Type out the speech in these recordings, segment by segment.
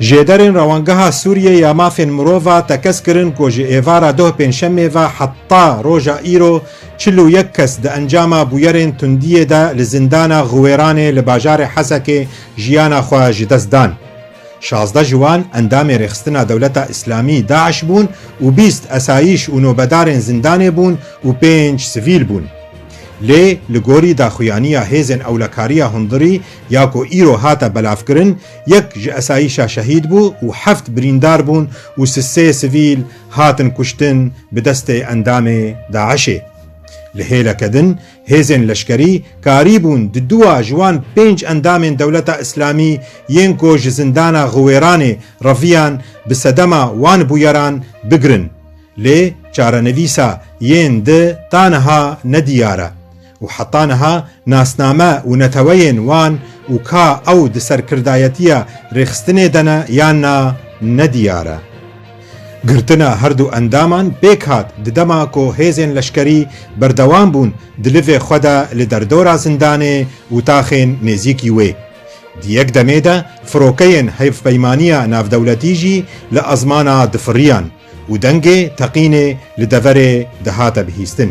Jêderên Rewangeha Sûriyê ya Mafên Mirova tekez kirin ku ji êvara doh pêncşemê ve heta roja îro çil û yek kes di encama bûyerên tundiyê de li zindana Xiwêranê li bajarê Hesekê jiyana xwe ji dest dan. Şazdeh ji wan endamên Rêxistina Dewleta Îslamî, DAIŞ, bûn û bîst esayîş û nobedarên zindanê bûn û pênc sivîl bûn. Lê li gorî daxuyaniya hêzên ewlekariya hundirî ya ku îro hate belavkirin, yek ji esayîşa şehîd bû û heft birîndar bûn û si sê sivîl hatin kuştin bi destê endamê DAIŞ'ê. Li hêleke din hêzên leşkerî karîbûn di dua ji wan pênc endamên Dewleta Îslamî yên ku ji zindana Xiwêranê reviyan bi sedema wan bûyeran bigirin. Lê çarenivîsa yên di ta niha ne diyar e û heta niha nasname û neteweyên wan û ka ew di serkirdayetiya rêxistinê de ne yan na ne diyar e. Girtina her du endaman pêk hat di dema ku hêzên leşkerî berdewam bûn di livê xwe de li derdora zindanê û taxên nêzîkî wê. Di yek demê de firokeyên hevpeymaniya navdewletî jî li ezmana difiriyan. Û dengê teqînê li deverê dihate bihîstin.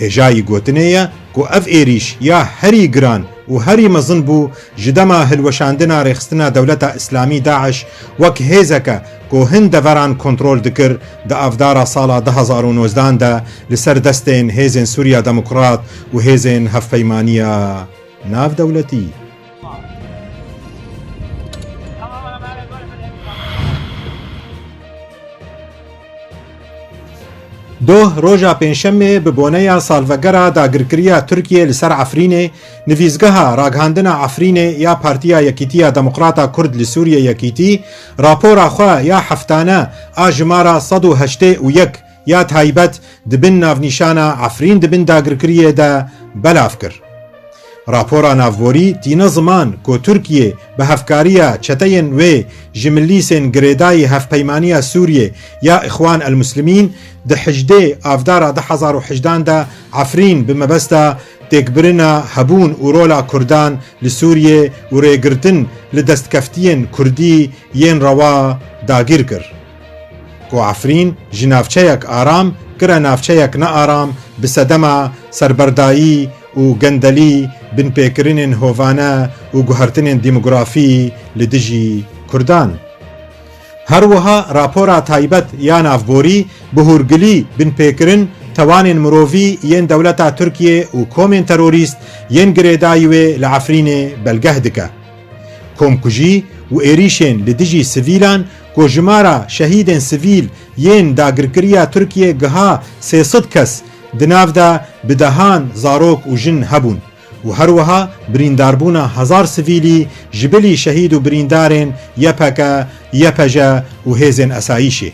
Hêjayî gotinê ye ku ev êrîş ya herî giran û herî mezin bû ji dema hilweşandina rêxistina Dewleta Îslamî DAIŞ wek hêzeke ku hin deveran kontrol dikir di avdara sala du hezar û nozdan de li ser destên Hêzên Sûriya Demokrat û Hêzên Hevpeymaniya Navdewletî Doh roja pênşemê bi boneya salvegera dagirkiriya Tirkiyê li ser Efrînê nivîsgeha ragihandina Efrînê ya Partiya Yekîtiya Demokrata Kurd li Sûriyê Yekîtî rapora xwe ya heftane a jimara sed û heştê û yek ya taybet di bin navnîşana Efrîn di bin dagirkiriyê de belav kir. Rapora navborî tîne ziman ku Tirkiyê bi hevkariya çeteyên wê ji milîsên girêdayî Hevpeymaniya Sûriyê ya Îxwan El-Muslimîn di hejdê avdara du hezar û hejdan de Efrîn bi mebesta têkbirina hebûn û rola Kurdan li Sûriyê û rêgirtin li destkeftiyên Kurdî yên rewa dagîr kir. Ku Efrîn ji navçeyek aram kire navçeyek nearam bi sedema serberdayî û gendelî, binpêkirinên hovane û guhertinên demografî li dijî Kurdan. Her wiha rapora taybet ya navborî bi hûrgilî binpêkirin tewanên mirovî yên dewleta Tirkiyê û komên terorîst yên girêdayî wê li Efrînê belgeh dike. Komkujî û êrîşên li dijî sivîlan ku jimara şehîdên sivîl yên dagirkeriya Tirkiyê giha sê sed kes, di nav de bi dehan zarok û jin hebûn û her wiha birîndarbûna hezar sivîlî ji bilî şehîd û birîndarên YPG, YPJ û hêzên esayîşê.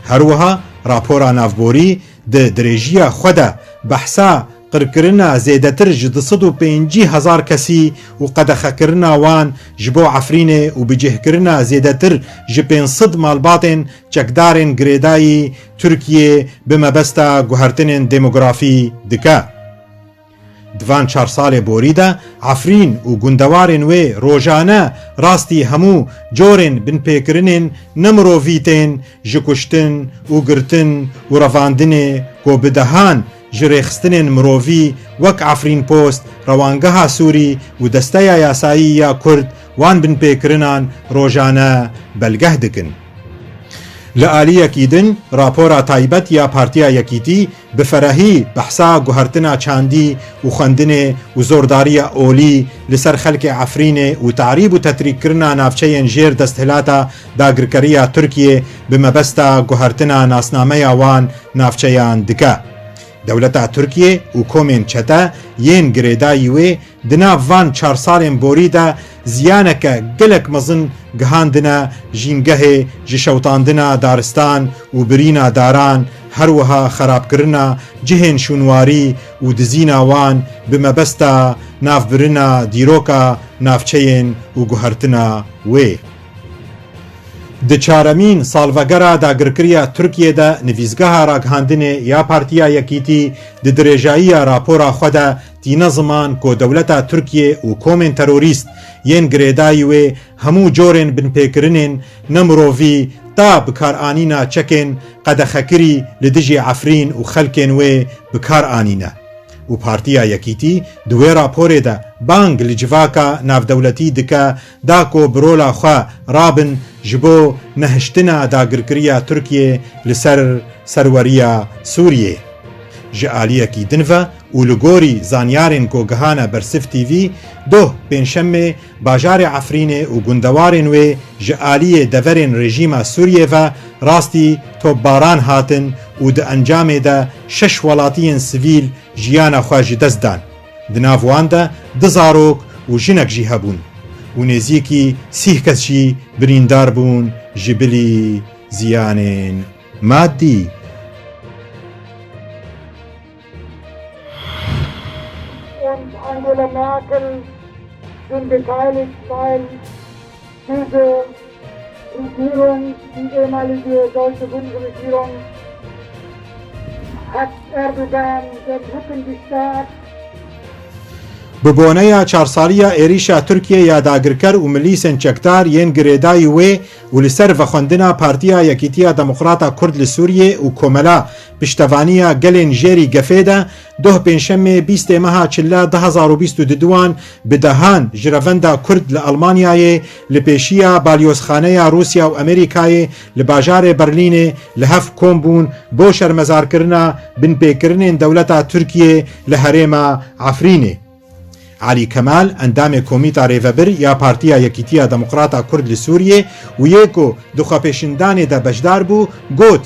Her wiha rapora navborî di dirêjiya xwe de behsa Qirkirina zêdetir ji du sed û pêncî hezar kesî û qedexekirina wan ji bo Efrînê û bicihkirina zêdetir ji pênc sed malbatên çekdarên girêdayî Tirkiyê bi mebesta guhertinên demografî dike. Di van çar salê borî de Efrîn û gundewarên wê rojane rastî hemû corên binpêkirinên ne mirovî tên ji kuştin û girtin û revandinê ku bi dehan Ji rêxistinên mirovî wek Efrînpost, Rewangeha Sûrî û Desteya Yasayî ya Kurd wan binpêkirinan rojane belgeh dikin. Li aliyekî din rapora taybet ya Partiya Yekîtî bi ferehî behsa guhertina çandî û xwendinê û zordariya olî li ser xelkê Efrînê û terîb û tetrîkkirina navçeyên jêr desthilata dagirkeriya Tirkiyê bi mebesta guhertina nasnameya wan navçeyan dike. Dewleta Tirkiyê û komên çete yên girêdayî wê di nav van çar salên borî de ziyaneke gelek mezin gihandine jîngehê ji şewitandina daristan û birîna daran her wiha xerabkirina cihên şûnwarî û dizîna wan bi mebesta navbirina dîroka navçeyên û guhertina wê. Di çaremîn salvegera dagirkirîya Tirkiyê de nivîsgeha ragihandinê ya Partîya Yekîtî di dirêjayîya rapora xwe de tîne ziman ku dewleta Tirkiyê û komên terorîst yên girêdayî wê hemû corên binpêkirinên ne mirovî ta bikaranîna çekên qedexekirî li dijî Efrîn û xelkên wê bikar anîne û Partîya Yekîtî di wê raporê de bang li civaka navdewletî dike Da ku bi rola xwe rabin ji bo nehiştina dagirkiriya Tirkiyê li ser serweriya Sûriyê. Ji aliyekî din ve û li gorî zanyarên ku gihane ber Sift TV, doh pêncşemê bajarê Efrînê û gundewarên wê ji aliyê deverên rejîma Sûriyê ve rastî topbaran hatin û di encamê de şeş welatiyên sivîl jiyana xwe ji dest dan. Di nav wan de du zarok û jinek jî hebûn û nêzîkî sîh kes jî birîndar bûn ji bilî ziyanên madî. Pêzo û Dîron û Êmali duyê Deutsche Bundesregierung Herr Erdogan den Rücken gestärkt. Bi boneya çarsaliya êrîşa Tirkiyê ya dagirker û milîsên çekdar yên girêdayî wê û li ser vexwendina Partiya Yekîtiya Demokrata Kurd li Sûriyê û Komela Piştevaniya Gelên Jêrî Gefê de Doh Pêncşemê bîst ê meha Çilla du hezar û bîst û du wan bi dehan ji revenda Kurd li Elmanyayê li pêşiya Balyozxaneya Rûsya û Amerîkayê li bajarê Berlînê li hev kom bûn bo şermezarkirina binpêkirinên dewleta Tirkiyê li herêma Efrînê. Elî Kemal endamê Komîta Rêvebir ya Partiya Yekîtiya Demokrata Kurd li Sûriyê û yê ku di xwepêşindanê de beşdar bû got,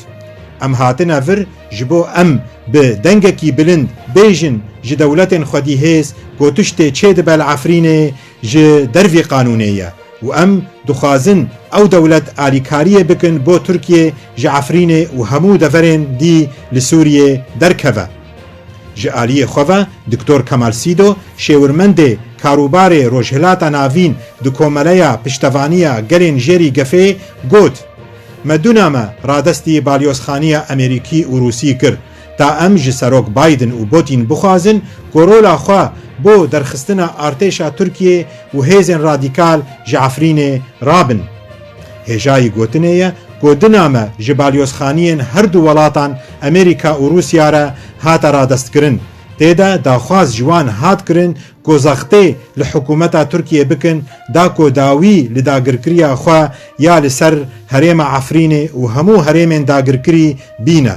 Em hatine vir ji bo em bi dengekî bilind bêjin ji dewletên xwedî hêz ku tiştê çêdibe li Efrînê ji dervî qanûnê ye û em dixwazin ew dewlet alîkariyê bikin bo Tirkiyê ji Efrînê û hemû deverên dî li Sûriyê derkeve. Ji aliyê xwe ve Diktor Kemal Sîdo, şêwirmendê karûbarê Rojhilata Navîn di Komeleya Piştevaniya Gelên Jêrî Gefê got, Me du name radestî balyozxaniya Amerîkî û Rûsî kir ta em ji Serok Biden û Botîn bixwazin ku rola xwe bo derxistina artêşa Tirkiyê û hêzên radîkal ji Efrînê rabin. Hêjayî gotinê ye ku di name ji balyozxaniyên her du welatan Amerîka û Rûsya re hate radestkirin. Tê de daxwaz ji wan hat kirin ku zextê li hikûmeta Tirkiyê bikin da ku dawî li dagirkiriya xwe ya li ser herêma Efrînê û hemû herêmên dagirkirî bîne.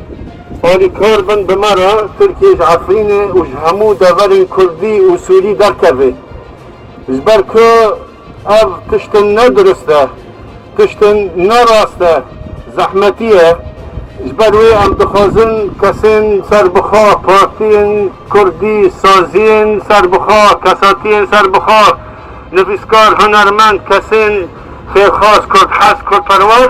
Alîkar bin bi me re Tirkiyê ji Efrînê û ji hemû deverên Kurdî û Sûrî derkevê. Ji ber ku ev tiştin ne dirust e, tiştin ne rast e, zehmetî ye. Ji ber wê em dixwazin kesên serbixwe, partiyên Kurdî, saziyên serbixwe, kesatiyên serbixwe, nivîskar, hunermend, kesên xêrxwaz, Kurdhez, Kurdperwer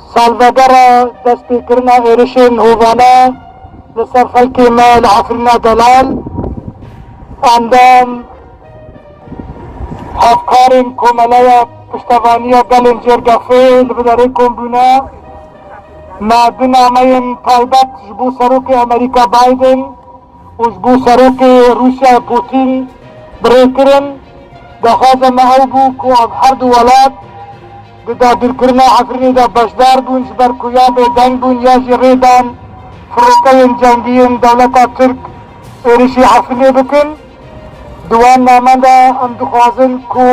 Salvegera destpêkirina êrişên hovane li ser xelkê me li Efrîna Delal, endam, hevkarên Komeleya Piştevaniya Gelên Cêrgefê li bi derê kom bûne. Me du nameyên taybet ji bo Serokê Amerîka Biden û ji bo Serokê Rûsyayê Pûtîn bi rê kirin. Daxwaza me ew bû ku ev her du welat, Di dagirkirina Efrînê de beşdar bûn ji ber ku ya bêdeng bûn ya jî rê dan firokeyên cengî yên dewleta Tirk êrişî Efrînê bikin. Di wan namen de em dixwazin ku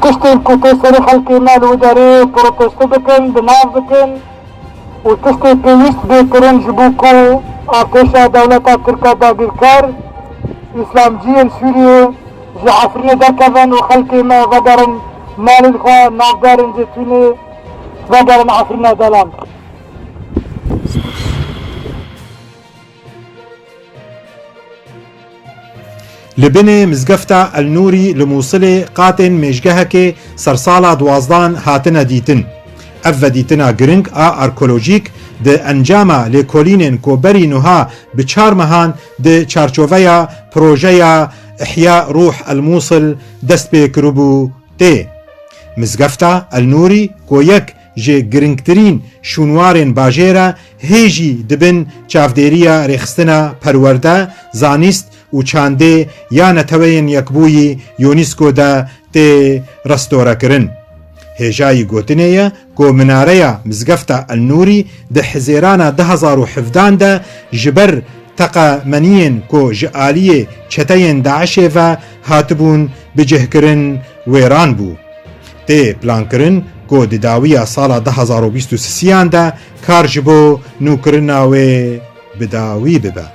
tiştên ku tê serê xelkê me li wi derê protesto bikin, bi nav bikin û tiştê pêwîst bê kirin ji bo ku artêşa dewleta Tirka dagirker, Îslamciyên Sûriyê, Ji Efrînê derkevin û xelkê me vegerin malên xwe, navberên Zêtûnê vegerin Efrîna Delan. Li binê mizgefta El Nûrî li Mûsilê qatên mêjgehekê sersala duwazdan hatine dîtin. Ev vedîtina giring a arkolojîk di encama lêkolînên ku berî nuha bi çar mehan di çarçoveya projeya Îhya Ruh El Mûsil dest pê kiribû tê. Mizgefta El Nûrî ku yek ji girîngtirîn şûnwarên bajêr e hê jî di bin çavdêriya Rêxistina Perwerde, Zanîst û Çandê ya Neteweyên Yekbûyî, UNESCO, de tê restorekirin. Hêjayî gotinê ye, Ku minareya Mizgefta El-Nûrî di hizêrana du hezar û hevdan de ji ber teqemeniyên ku ji aliyê çeteyên DAIŞ'ê ve hatibûn bicihkirin wêran bû. Tê plankirin ku di dawiya sala du hezar û bîst û sisiyan de kar ji bo nûkirina wê bi dawî bibe.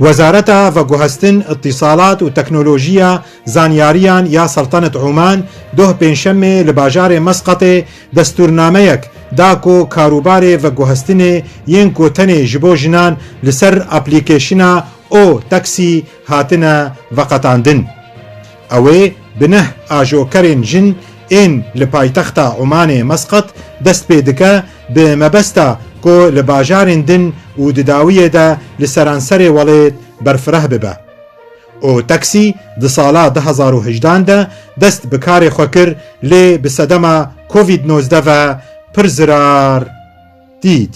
Wezareta Veguhestin, Îtîsalat û Teknolojiya Zanyariyan ya Seltaneta Oman doh Pêncşemê li bajarê Mesqatê destûrnameyek da ku karûbarê veguhestinê yên ku tenê ji bo jinan li ser aplîkeşina O-Taxi hatine veqetandin. Ew ê bi neh ajokerên jin ên li paytexta Omanê Mesqat dest pê dike bi mebesta ku li bajarên din û di dawiyê de li seranserê welêt berfireh bibe. O Taksî di sala du hezar û hejdan de dest bi karê xwe kir lê bi sedema Covid nozdeh ve pir zirar dît.